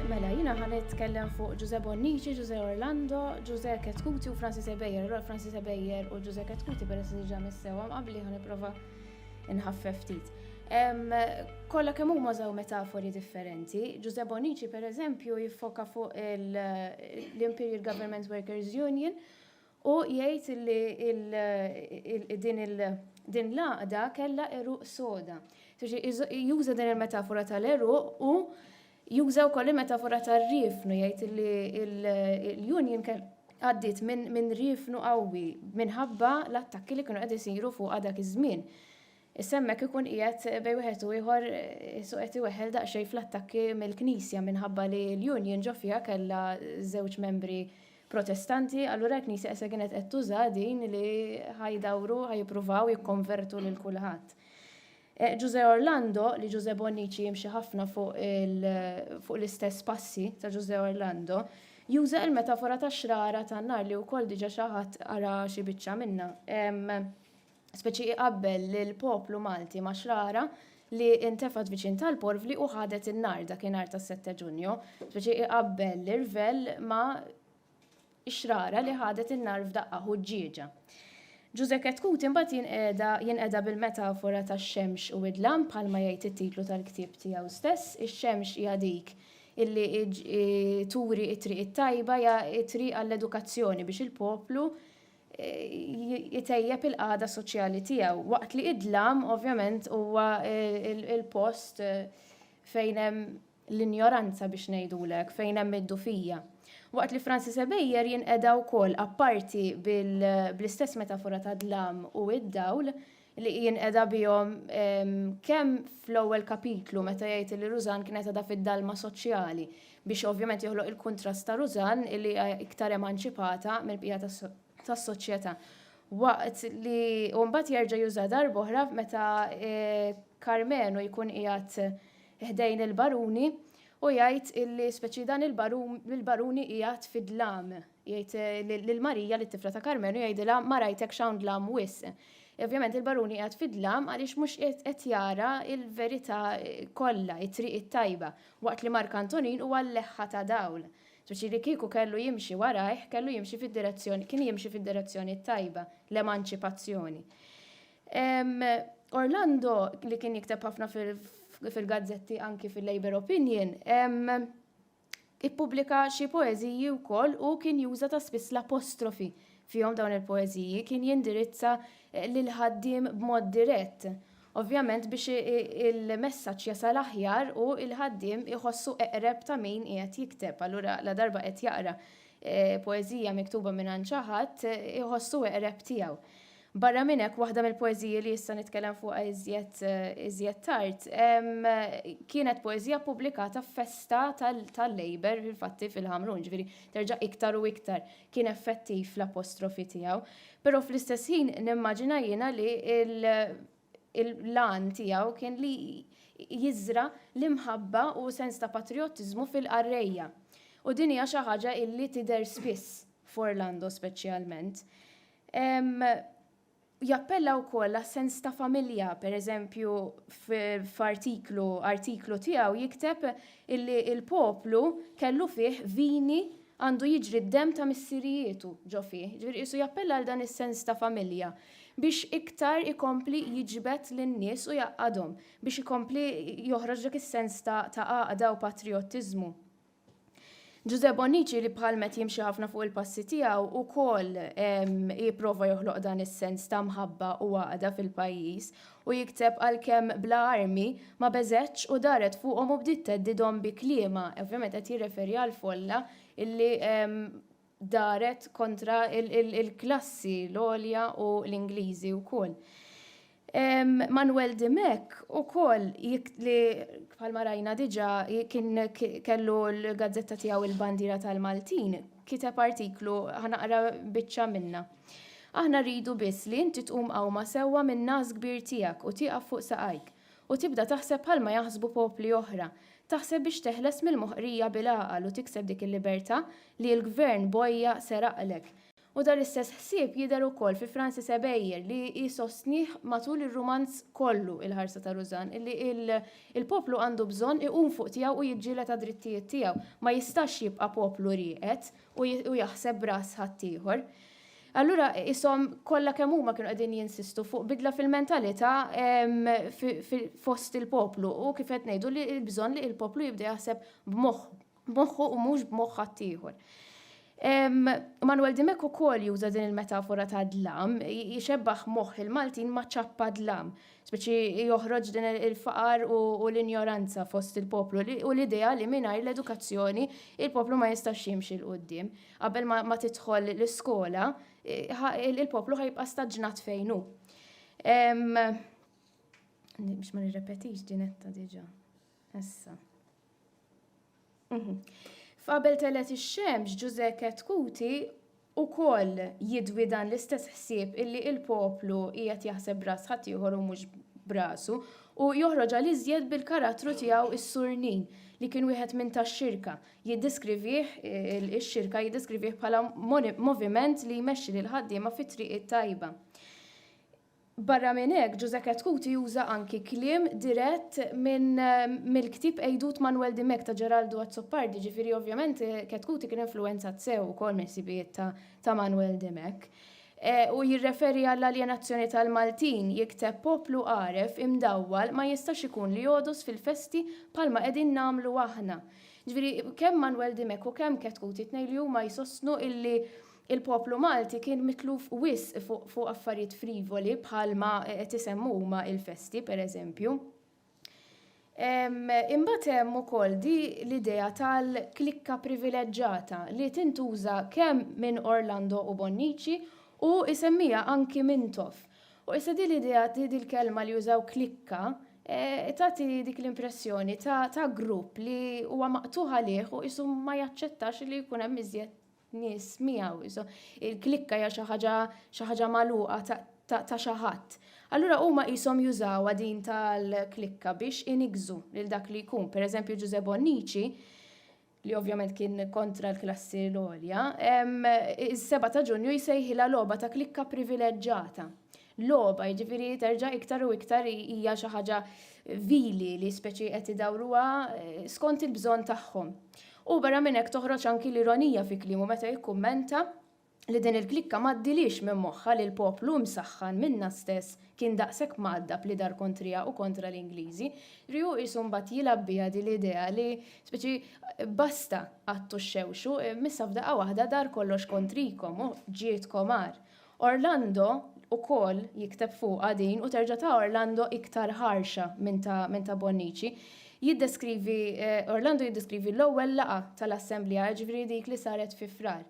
Mela, jina ħan nitkellem fuq Giuseppe Bonnici, Giuseppe Orlando, Giuseppe Ketkuti u Francis Ebejer. Allora Francis Ebejer u Giuseppe Ketkuti peress li ġa missewa qabli ħan nipprova Inħaffef ftit. Kolla kemm huma żew metafori differenti, Ġuże Bonici per eżempju jiffoka fuq l-Imperial Government Workers Union u jgħid li din l-għaqda kellha eruq soda. Juża din il-metafora tal-eruq u Juża wkoll il-metafora tar-riefnu, jgħid li l-Union għaddiet minn riefnu qawwi minħabba l-attakki li kienu qed isiru fuqha dak iż-żmien. Issa hemmhekk ikun qiegħed bejn wieħed u ieħor qisu qed iweħħel daqsxejn fl-attakki mill-Knisja minħabba li l-Union ġo fiha kellha żewġ membri Protestanti, allura l-Knisja issa kienet qed tuża din li ħa jdawru, ħa jippruvaw jikkonvertu lil kulħadd. Ġużè Orlando, li Ġużè Bonnici jimxi ħafna fuq fuq l-istess passi ta' Ġużè Orlando, juża il-metafora tax-xrara tan-nar li wkoll diġa xi ħadd qara xi biċċa minnha. Speċi iqabbel lill-poplu Malti ma' xrara li ntefgħet viċin tal-porvli u ħadet in-nar dakinhar tas-Sette Ġunju. Speċi iqabbel l-irvell ma' ix-xrara li ħadet in-nar f'daqqa ħuġġieġa. Ġużè Ketkuti mbagħad jinqeda jinqeda bil-metafora tax-xemx u d-dlam bħalma jgħid it-titlu tal-ktieb tiegħu stess. Ix-xemx hija dik illi turi t-triq it-tajba, hija t-triq għall-edukazzjoni biex il-poplu jtejjeb il-qagħda soċjali tiegħu. Waqt li d-dlam ovvjament huwa l-post fejn hemm l-injoranza biex ngħidulek fejn hemm id-dufija. Waqt li Francis Ebejjer jinqeda wkoll apparti bl-istess metafora ta' dlam u id-dawl li jinqeda bihom kemm fl-ewwel kapitlu meta jgħid li Rużan kienet għadha fid-dalma soċjali biex ovvjament joħloq il-kuntrast ta' Rużan li hija iktar emanċipata mill-bqija tas-soċjetà. Waqt li u mbagħad jerġa' juża darb'oħra meta Karmenu jkun qiegħed ħdejn il-baruni u jgħid illi speċi dan il-baruni qiegħed fid-dlam. Jgħid eh, lil Marija li tifla ta' Karmenu jgħidilha ma rajtekx hawn dlam wis. Ovvjament il-baruni qiegħed fid-dlam għaliex mhux qed jara il-verità eh, kollha, it-triq it-tajba, waqt li Mark Antonin huwa l-leħħa ta' dawl. Speċi li kieku kellu jimxi warajh, kellu jimxi fid-direzzjoni, kien jimxi fid-direzzjoni tajba, l-emanċipazzjoni. Orlando, li kien jikteb ħafna fil-gazzetti anki fil-Labour Opinion, ippubblika xi poeżiji wkoll u kien juża ta' spiss l-apostrofi fihom dawn il-poeżiji, kien jindirizza lill-ħaddiem b'mod dirett. Ovvjament biex il-messaġġ jasal aħjar u l-ħaddiem iħossu eqreb ta' min qiegħed jikteb, allura ladarba qed jaqra poeżija miktuba mingħand xi ħadd iħossu eqreb tiegħu. Barra minn hekk, waħda mill-poeżiji li issa nitkellem fuqha iżjed iżjed tard kienet poeżija ppubblikata f'festa tal-Labour fil-fatti fil-Ħamrun, ġifieri terġa' iktar u iktar kien effettiv l-apostrofi tiegħu. Però fl-istess ħin nimmaġina jiena li l-għan tiegħu kien li jiżra' l-imħabba u sens ta' patrijottiżmu fil-qarrejja. U din hija xi ħaġa illi tidher spiss f'Orlando speċjalment. Jappella wkoll għas-sens ta' familja, pereżempju f'artiklu artiklu tiegħu jikteb illi l-poplu kellu fih vini għandu jiġri d-demm ta' missirijietu ġo fih. Ġifieri qisu jappella għal dan is-sens ta' familja biex iktar ikompli jiġbed lin-nies u jgħaqqadhom, biex ikompli joħroġ dak is-sens ta' għaqda u patrijottiżmu. Ġużè Bonnici li bħal met jimxi ħafna fuq il-passi tiegħu wkoll jipprova joħloq dan is-sens ta' mħabba u għaqda fil-pajjiż u jikteb għalkemm bla armi ma beżgħetx u daret fuqhom u bdiet theddidhom bi kliemha, ovvjament qed jirreferi għall-folla illi daret kontra l-klassi l-għolja u l-Ingliżi wkoll. Manuel Dimech ukoll li bħalma rajna diġà kien kellu l-gazzetta tiegħu il-Bandiera tal-Maltin kiteb artiklu ħanaqra biċċa minnha. Aħna rridu biss li inti tqum qawma sewwa min-nagħas kbir tiegħek u tieqaf fuq saqajk. u tibda taħseb bħalma jaħsbu popli oħra, taħseb biex teħles mill-moħqrija bil-għaqal u tikseb dik il-libertà li l-Gvern Boja seraqlek. U dan l-istess ħsieb jidher ukoll fi Francis Ebejer li hi sostnih matul ir-rumanz kollu Il-Ħarsa ta' Rużann illi l-poplu għandu bżonn iqum fuq tiegħu u jiġġieled għad-drittijiet tiegħu. Ma jistax jibqa' poplu rieqed u jaħseb b'ras ħaddieħor. Allura qishom kollha kemm huma kienu qegħdin jinsistu fuq bidla fil-mentalità fost il-poplu u kif qed ngħidu li l-bżonn li l-poplu jibda jaħseb b'moħħu, b'moħħu u mhux b'moħħ ħaddieħor. Manuel Dimech ukoll juża din il-metafora ta' dlam, jixebbaħ moħħ il-Maltin ma' ċappa dlam, speċi joħroġ din il-faqar u l-injoranza fost il-poplu u l-idea li mingħajr l-edukazzjoni il-poplu ma jistax jimxi l-qudiem. Qabel ma tidħol l-iskola, il-poplu ħajbqa' staġnat fejn hu. Biex ma nirrepetix dinetta diġa. Issa. Mhm. F'qabel telet ix-xemx Ġuże Ketkuti u koll jidwi dan l-istess ħsieb illi il-poplu qiegħed jaħseb bras ħaddieħor u mhux brasu u joħroġ għal iżjed bil-karattru tiegħu is-surnin li kien wieħed minn tax-xirka jiddeskrivih, ix-xirka jiddeskrivih bħala moviment li jmexxi lill-ħaddiema fit-triq it-tajba. Barra minn hekk, Ġużè Cathcart juża anki kliem dirett mill-ktieb Għidut Manwel Dimech ta' Ġeraldu Azzopardi, ġifieri ovvjament Cathcart kien influwenzat sew ukoll mill-ħsibijiet ta' Manwel Dimech. U jirreferi għall-aljenazzjoni tal-Maltin, jikteb Poplu għaref, imdawwal, ma jistax ikun li jogħdos fil-festi bħalma qegħdin nagħmlu aħna. Ġifieri, kemm Manwel Dimech u kemm Cat Coote it-tnejn li huma jsostnu illi l-poplu Malti kien mitluf wisq fuq affarijiet frivoli bħal ma qed isemmu huma il-festi, per eżempju. Imbagħad hemm ukoll di l-idea tal-klikka privileġġata li tintuża kemm minn Orlando u Bonnici u isemmiha anki Mintoff. U issa din l-idea, din il-kelma li jużaw klikka, eh, tagħti dik l-impressjoni ta', ta grupp li huwa maqtuħ għalih u qisu ma jaċċettax li jkun hemm iżjed nies miegħu. Il-klikka hija xi ħaġa xi ħaġa magħluqa ta', ta, ta xi ħadd. Allura huma qishom jużawha din tal-klikka biex inigżu lil dak li jkun. Pereżempju Ġużè Bonnici li ovvjament kien kontra l-klassi l-għolja, is-7 ta' Ġunju jsejħilha logħba ta' klikka privileġġata. Logħba, jiġifieri terġa' iktar u iktar hija xi ħaġa vili li speċi qed idawruha skont il-bżonn tagħhom. U barra minn hekk toħroġ anki l-ironija fi kliemu meta jikkummenta li din il-klikka ma għaddielhiex minn moħħha li l-poplu imsaħħan minnha stess kien daqshekk mgħaddab li dar kontriha u kontra l-Ingliżi, ri hu qisu mbagħad jilgħab biha din l-idea li, speċi, basta qgħadtu xxewxu, m'issa f'daqqa waħda dar kollox kontrikom u ġietkom agħar. Orlando ukoll jikteb fuqha din u terġa' ta' Orlando iktar ħarxa minn ta' minn ta' Bonnici. Jiddeskrivi, Orlando jiddeskrivi l-ewwel laqgħa tal-Assemblea, jiġifieri dik li saret fi Frar.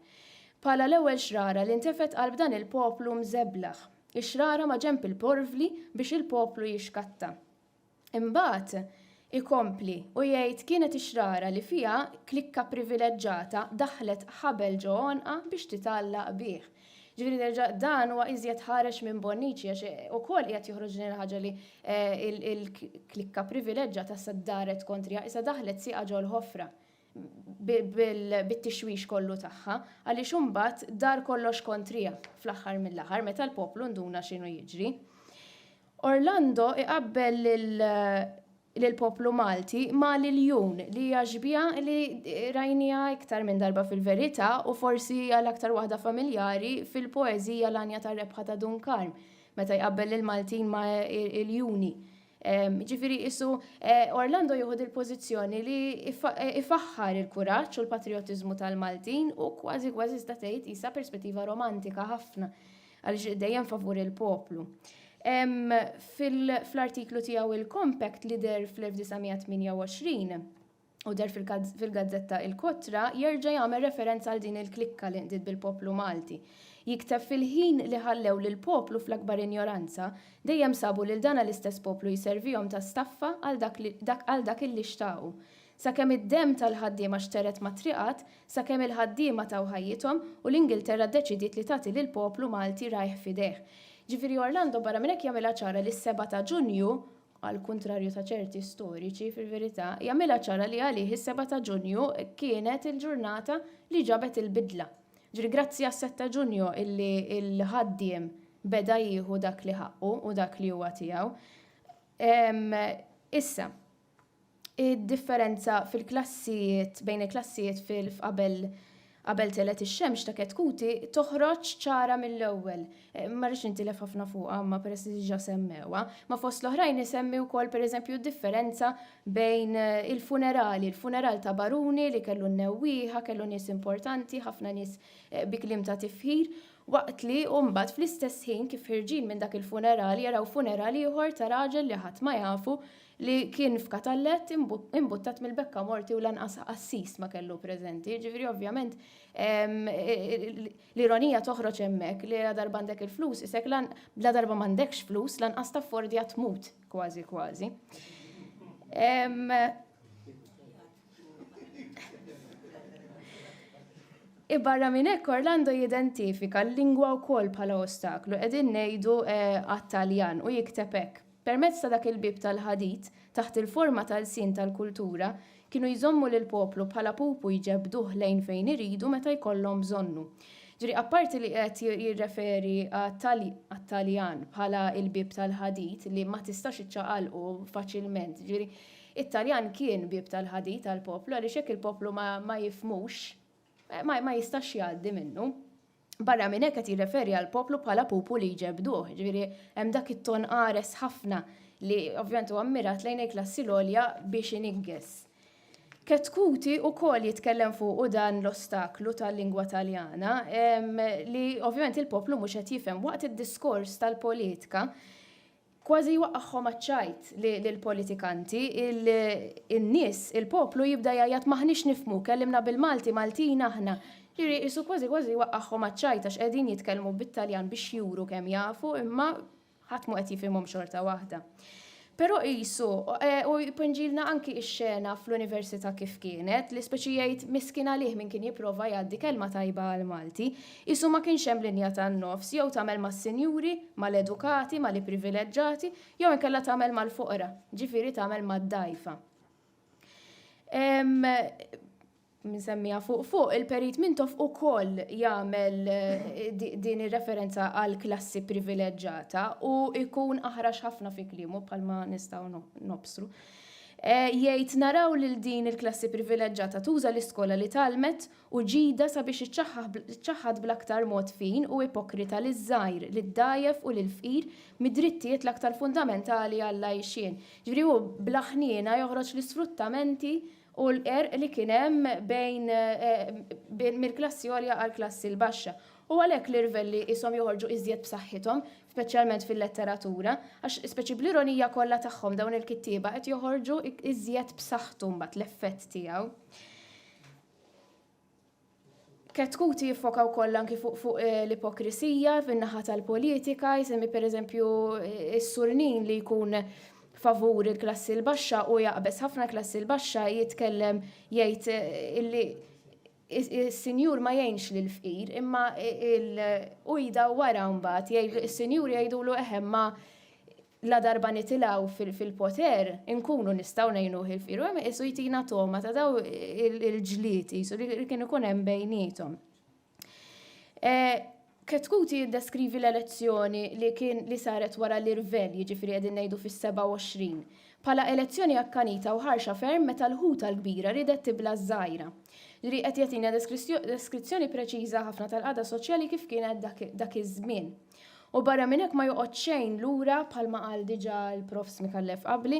Bħala l-ewwel xrara li ntefgħet qalb dan il-poplu mżeblaħ. Ix-xrara ma' ġenb il-porvli biex il-poplu jixkatta. Imbagħad ikompli u jgħid kienet ix-xrara li fiha klikka privileġġata daħħlet ħabel ġo għonqha biex titgħallaq bih. Ġifieri nerġa' dan huwa iżjed ħarex minn Bonnici għax ukoll qiegħed joħroġ din il-ħaġa li l-klikka privileġġata issa ddaret kontriha, issa daħħlet sieqha ġol-ħofra. bit-tixwix kollu tagħha, għaliex imbagħad dar kollox kontriha fl-aħħar mill-aħħar meta l-poplu nduna x'inhu jiġri. Orlando iqabbel lill-poplu Malti ma' l-iljun li hija xbieha li rajniha iktar minn darba fil-verità u forsi għal aktar waħda familjari fil-poeżija L-Għanja tar-Rebħa ta' Dun Karm meta jqabbel lill-Maltin ma' iljuni Jiġifieri qisu Orlando jieħu dil-pożizzjoni li jfaħħar il-kuraġġ u l-patrijotiżmu tal-Maltin u kważi kważi tista' tgħid qisha perspettiva romantika ħafna għaliex dejjem favur il-poplu. Fl-artiklu tiegħu Il-Compact li deher fl-1928, u deher fil-gazzetta Il-Kotra jerġa' jagħmel referenza għal din il-klikka li nqdiet bil-poplu Malti. Jikteb fil-ħin li ħallew lill-poplu fl-akbar injoranza, dejjem sabu lil dana l-istess poplu jservihom ta' staffa għal dak illi xtaqu. Sakemm id-demm tal-ħaddiema xteret mat-triqat, sakemm il-ħaddiema taw ħajjithom u l-Ingilterra ddeċidiet li tagħti lill-poplu Malti rajh f'idejh. Ġifieri Orlando barra minn hekk jagħmilha ċara li s-Seba' ta' Ġunju għall-kuntrarju ta' ċerti storiċi, fil-verità, jagħmilha ċara li għalih is-Seba' ta' Ġunju kienet il-ġurnata li ġabet il-bidla. Ġifieri grazzi għas-Sett ta' Ġunju illi l-ħaddiem beda jieħu dak li ħaqqu u dak li huwa tiegħu. Issa. Id-differenza fil-klassijiet bejn il-klassijiet fil-f qabel qabel telgħet ix-xemx ta' Ketkuti toħroġ ċara mill-ewwel. Ma rridx nintilef ħafna fuqha imma peress li diġà semmewha. Ma fost l-oħrajn isemmi wkoll pereżempju d-differenza bejn il-funerali, il-funeral ta' baruni li kellu n-newwieħa, kellu nies importanti, ħafna nies bi kliem ta' tifħir, waqt li u mbagħad fl-istess ħin kif ħirġin minn dak il-funeral jaraw funeral ieħor ta' raġel li ħadd ma jafu li kien f'katallett imbuttat mill-bekka morti u lanqas qassis ma kellu preżenti. Ġifieri ovvjament l-ironija toħroġ hemmhekk li la darba għandek il-flus isek la darba m'għandekx flus lanqas taffordja tmut kważi kważi. Barra minn hekk Orlando jidentifika l-lingwa wkoll bħala ostaklu, qegħdin ngħidu għat-Taljan u jikteb hekk, Permezz ta' dak il-bieb tal-ħadid, taħt il-forma ta' lsien tal-kultura, kienu jżommu lill-poplu bħala pupu jġebbduh lejn fejn iridu meta jkollhom bżonnu. Ġifieri apparti li qiegħed jirreferi għat-Taljan bħala l-bieb tal-ħadid li ma tistax iċċaqalqu faċilment, ġifieri t-Taljan kien bieb tal-ħadid għall-poplu għaliex jekk il-poplu ma jifhmux, ma jistax jgħaddi minnu. Barra minn hekk qed jirreferi għal poplu bħala pupu li jġebduh, ġifieri hemm dak it-ton qares ħafna li ovvjament huwa mmirat lejn il-klassi l-għolja biex iniggeż. Ketkuti u kol jitkellem fuq u dan l-ostaklu tal-lingwa taljana li ovvjament il-poplu mhux qed jifhem waqt id-diskors tal-politika Kważi jwaqqagħhom għaċ-ċajt lill-politikanti, in-nies, il-poplu jibda jgħajjat m'aħniex nifhmu, kellimna bil-Malti, Maltin aħna. Jiġifieri qisu kważi kważi jwaqqagħhom għaċ-ċajt għax qegħdin jitkellmu bit-Taljan biex juru kemm jafu imma ħadd mhu qed jifhimhom xorta waħda. Però qisu, u jpinġilna anki x-xena fl-Università kif kienet, li speċi jgħid miskien għalih min kien jipprova jgħaddi kelma tajba għall-Malti, Qisu ma kienx hemm linja tan-nofs, jew tagħmel mas-sinjuri, mal-edukati, mal-ipprivileġġati, jew inkella tagħmel mal-foqra, ġifieri tagħmel mad-dgħajfa. Msemmija fuq fuq, il-Perit Mintoff ukoll jagħmel din ir-referenza għal klassi privileġġata u jkun aħrax ħafna fi kliemu bħalma nistgħu nobsru. Jgħid naraw lil din il-klassi privileġġata tuża l-iskola li tgħallmet u ġida sabiex iċċaħħad bl-aktar mod fin u ipokrita liż-żgħir, lid-dgħajjef u lill-fqir mid-drittijiet l-aktar fundamentali għall-għajxien. Ġifieri hu bla ħniena joħroġ l-isfruttamenti u l-qerq li kien hemm bejn mill-klassi għolja għall-klassi l-baxxa. U għalhekk l-irvelli qishom joħorġu iżjed b'saħħithom, speċjalment fil-letteratura, għax speċi bl-ironija kollha tagħhom dawn il-kittieba qed joħorġu iżjed b'saħħtu mbagħad l-effett tiegħu. Ketkuti jiffoka wkoll anki fuq fuq eh, l-ipokrisija fin-naħa tal-politika, jisemmi pereżempju eh, is-surnin li jkun favur il-klassi l-baxxa u jaqbes ħafna klassi l-baxxa jitkellem jgħid eh, illi is-sinjur ma jgħinx lil fqir imma il-ujda wara mbagħad jgħidu is-sinjur jgħidulu eħem ma Ladarba nitilgħu fil-poter, inkunu nistgħu ngħinuh il-fqir. U hemm iqisu jtina togħma ta' dawn il-ġlied qisu li kien ikun hemm bejniethom. Ketkuti jiddeskrivi l-elezzjoni li kien li saret wara l-irvell, jiġifieri qegħdin ngħidu fis-27, bħala elezzjoni akkanita u ħarxa ferm meta l-ħuta l-kbira riedet tibla' ż-żgħira. Ġifieri qed jagħtina deskrizzjoni preċiża ħafna tal-qagħda soċjali kif kienet dak iż-żmien. U barra minn hekk ma joqgħodx xejn lura bħalma qal diġà l-Prof Smikallef qabli,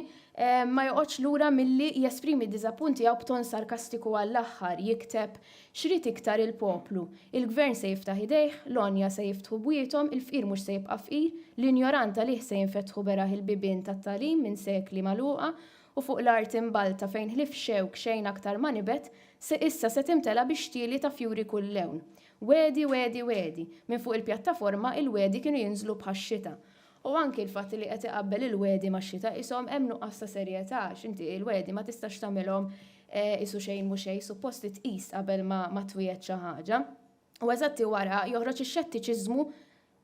ma joqgħodx lura milli jesprimi d-diżappunt tiegħu b'ton sarkastiku għall-aħħar, jikteb, X'rid iktar il-poplu? Il-Gvern se jiftaħ idejh, l-għonja se jiftħu bwiethom, il-fqir mhux se jibqa' fqir, l-injorant għalih se jinfetħu beraħ il-bibien tat-tagħlim minn sekli magħluqa u fuq l-art imbalta fejn ħlief xewk xejn aktar ma nibet, issa se timtela bix-xtieli ta' fjuri kull lewn. Wegħdi, wegħdi, wegħdi. Minn fuq il-pjattaforma il-wegħdi kienu jinżlu bħax-xita. U anki l-fatt li qed iqabbel il-wegħdi max-xita qishom hemm nuqqas ta' serjetà għax inti l-wegħdi ma tistax tagħmilhom qisu xejn mhu xejn, suppost li tqis qabel ma twiegħed xi ħaġa. U eżatti wara joħroġ ix-xettiċiżmu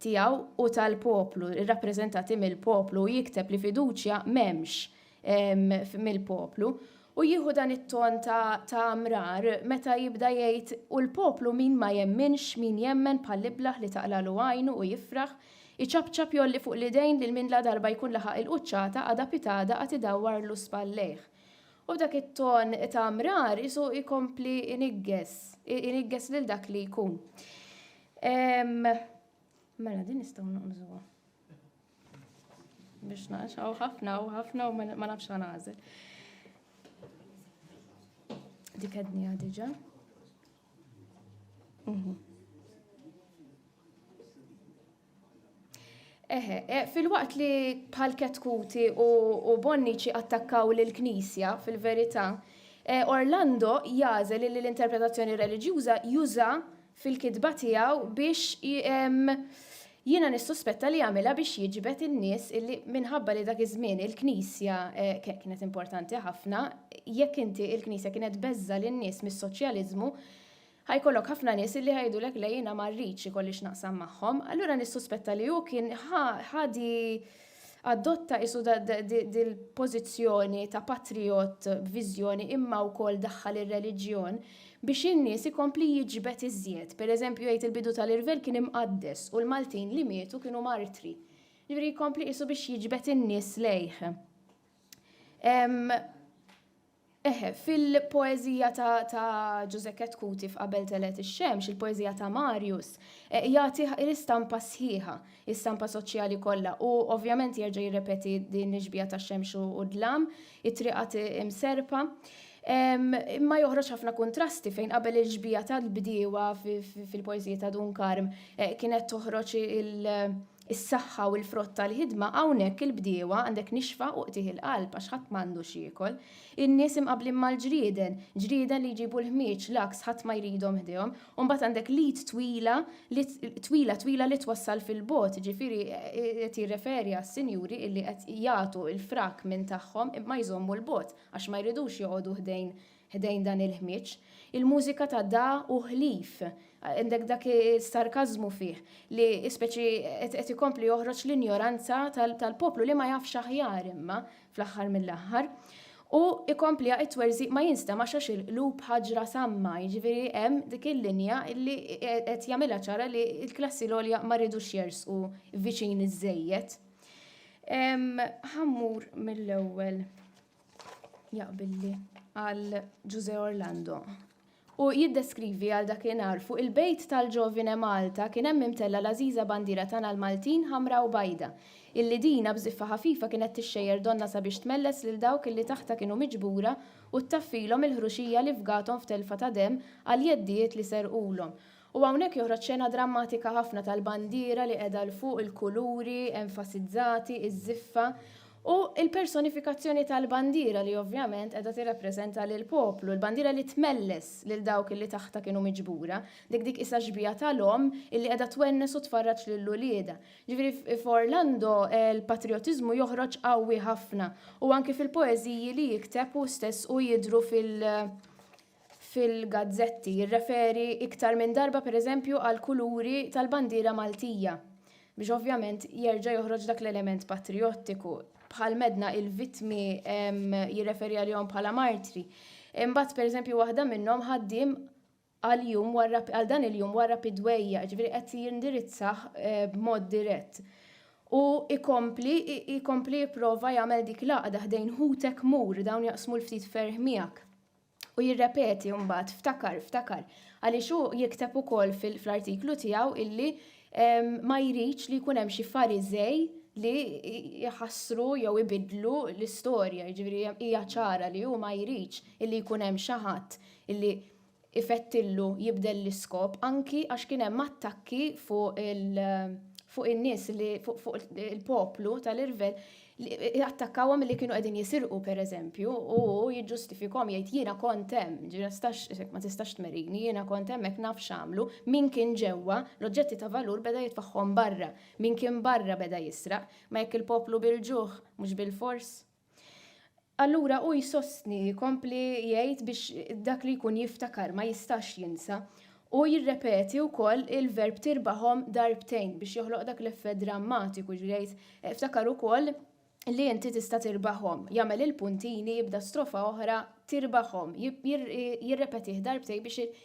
tiegħu u tal-poplu, irrappreżentati mill-poplu, u jikteb li fiduċja m'hemmx mill-poplu. U jieħu dan it-ton ta' mrar meta jibda jgħid u l-poplu min ma jemminx, min jemmen bħall-iblah li taqlagħlu għajnu u jifraħ, iċapċap jgħolli fuq l-idejn lil min ladarba jkun laħaq il-quċċata għada pitgħada għad idawwarlu spallejh. U b'dak it-ton ta' mrar qisu jkompli jniggess, jniggess lil dak li jkun. Mela din nistgħu naqbżuha. Biex naqxaw ħafna u ħafna u ma nafx għanażel. Dik għadni għadġa. Mhm. Eħe, eh, fil-waqt li bħal ketkuti u bonniċi attakkaw l-Knisja fil-verità, eh, Orlando jazel li l-interpretazzjoni religjuza juża fil-kitba tiegħu biex jiena nissuspetta li jagħmilha biex jiġbed in-nies illi minħabba li dak iż-żmien il-Knisja kienet importanti ħafna, jekk inti il-Knisja kienet beżża' lin-nies mis-soċjaliżmu, ħa jkollok ħafna nies illi ħa jgħidulek le jiena ma rridx ikolli x'naqsam magħhom. Allura nissuspetta li hu kien ħa di Adotta qisu dil-pożizzjoni ta' patrijott b'viżjoni imma wkoll daħħal ir-reliġjon biex in-nies ikompli jiġbed iżjed. Pereżempju jgħid il-bidu tal-irvell kien imqaddes u l-Maltin li mietu kienu martri. Ġifieri jkompli qisu biex jiġbed in-nies lejh. Eħe, fil-poeżija ta' ta' Ġużè Ketkuti f'Qabel telgħet ix-xemx, il-poeżija ta' Marius, jagħti l-istampa sħiħa, l-istampa soċjali kollha u ovvjament jerġa' jirrepeti din l-ixbiha ta' xemx u dlam, it-triqat imserrpa. Imma joħroġ ħafna kuntrasti fejn qabel il-xbiha tal-bdiewa fil-poeżiji ta' Dun Karm kienet toħroġ il- is-saħħa u l-frott tal-ħidma hawnhekk il-bdiewa għandek nixfa u qtigħ il-qalb għax ħadd m'għandu x'jiekol. In-nies imqabbli mal-ġrieden, ġrieden li jġibu l-ħmieġ, l-għaks ħadd ma jridhom ħdejhom. U mbagħad għandek l-id twila li twila twila li twassal fil-bogħod, jiġifieri qed jirreferi għas-sinjuri illi qed jagħtu l-frak minn tagħhom imma jżommu 'l bogħod għax ma jridux joqogħdu ħdejn Ħdejn dan il-ħmieġ, il-mużika ta' Da hu ħlief, għandek dak is-sarkażmu fih li speċi qed ikompli joħroġ l-injoranza tal-poplu li ma jafx aħjar imma fl-aħħar mill-aħħar. U ikompliha it-twerżiq ma jinstemax għax il-qlub ħaġra samma, jiġifieri hemm dik il-linja li qed jagħmilha ċara li l-klassi l-għolja ma jridux jersqu viċin iżżejjed. Ħa mmur mill-ewwel. jaqbilli għal Ġuże Orlando. U jiddeskrivi għal dak li narfu il-bejt tal-ġovine Malta kien hemm imtella l-għażiża bandiera tagħna l-Maltin ħamra u bajda, illi dina b'żiffa ħafifa kienet tixxejjer donnha sabiex tmelles lil dawk illi taħtha kienu miġbura u ttaffilhom il-ħruxija li fgathom f'telfa ta' demm għal jeddijiet li serqulhom. U hawnhekk joħroġ xena drammatika ħafna tal-bandiera li qiegħda 'l fuq, il-kuluri enfasizzati, iż-żiffa, u l-personifikazzjoni tal-bandiera li ovvjament qiegħda tirrappreżenta lill-poplu, l-bandiera li tmelles lil dawk li taħtha kienu miġbura, dik dik qisha xbieha tal-omm illi qiegħda twennes u tfarraġ lil uliedha. Ġifieri f'Orlando l-patrijotiżmu joħroġ qawwi ħafna u anki fil-poeżiji li jikteb hu stess u jidhru fil. fil-gazzetti jirreferi iktar minn darba pereżempju għall-kuluri tal-bandiera Maltija biex ovvjament jerġa' joħroġ dak l-element patrijottiku. Bħal m'għedna il-vittmi jirreferi għalihom bħala martri. Imbagħad pereżempju waħda minnhom ħaddiem għal jum warra għal dan il-jum warra pidwejja, ġifieri qed jindirizzah eh, b'mod dirett. U ikompli ikompli jipprova jagħmel dik l-għaqda ħdejn ħutek mur dawn jaqsmu l-ftit ferħ miegħek. U jirrepeti mbagħad ftakar, ftakar, għaliex hu jikteb ukoll fl-artiklu tiegħu illi ma jridx li jkun hemm xi fariżej li jħassru jew ibidlu l-istorja, jiġifieri hija ċara li hu ma jridx illi jkun hemm xi ħadd illi ifettillu jibdel l-iskop anki għax kien hemm attakki fuq il- fuq in-nies li fuq il-poplu tal-irvell li attakkawhom li kienu qegħdin jisirqu pereżempju u jiġġustifikhom jgħid jiena kont hemm, ma tistax tmerini, jiena kont hemm hekk naf x'għamlu, min kien ġewwa, l-oġġetti ta' valur beda jitfagħhom barra, min kien barra beda jisraq, ma jekk il-poplu bil-ġuħ, mhux bilfors. Allura hu jsostni, jkompli jgħid biex dak li jkun jiftakar ma jistax jinsa. Hu jirrepeti wkoll il-verb tirbahom darbtejn biex joħloq dak l-effett drammatiku, jiġifieri jgħid ftakar ukoll li inti tista' tirbahom, jagħmel il-puntini, jibda strofa oħra tirbahom, jirrepetih darbtejn biex